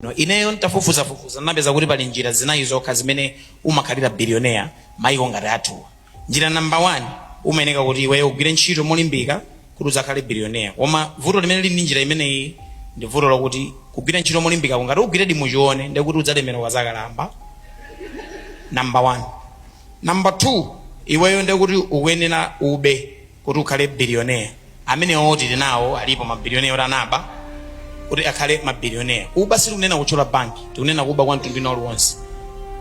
No, ineyo ntafufuzafufuza napeza kuti pali njira zinayi zokha zimene umakhalira billionaire maiko ngati athuwa njira number one umayeneka kuti iweyo ugwire ntchito molimbika kuti udzakhale billionaire koma vuto limene lili ndi njira imeneyi ndi vuto lakuti kugwira ntchito molimbikako ngati ugwiredi mu choona ndiye kuti udzalemera ukazakalamba number one number two iweyo ndiye kuti ukuyenera ube kuti ukhale billionaire amenewo tili nawo alipo mabilioneya oti anaba kuti akhale mabilioneya kuba sitikunena kutchola banki tikunena kuba kwa mtundu wina uliwonse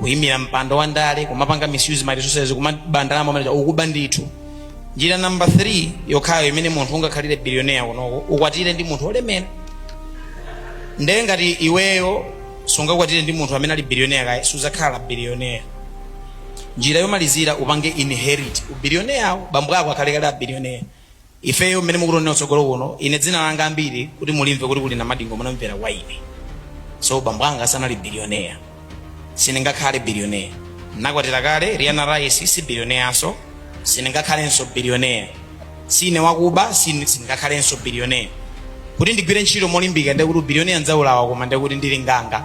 kuyimira mpando wa ndale kumapanga misuse ma resources kumaba ndalama manager ukuba ndithu njira namba 3 yokhayo imene munthu ungakhalire billionaire kunoko ukwatire ndi munthu olemera ndiye ngati iweyo sungakwatire ndi munthu amene ali billionaire kaye suzakhala billionaire njira yomalizira upange inherit ubilioneyawo bambo ako akhale kale abilioneya ifeyo mmene mukutionera kutsogolo kuno ine dzina langa ambiri kuti mulimve kuti kuli na madingo munamvera kwa ine so bambo anga sanali bilioneya sindingakhale bilioneya nakwatira kale riana rice si bilioneyaso sindingakhalenso bilioneya sine wakuba sine- sindingakhalenso bilioneya kuti ndigwire ntchito molimbika ndekuti ubilioneya ndzaulawa koma ndekuti ndili nkhalamba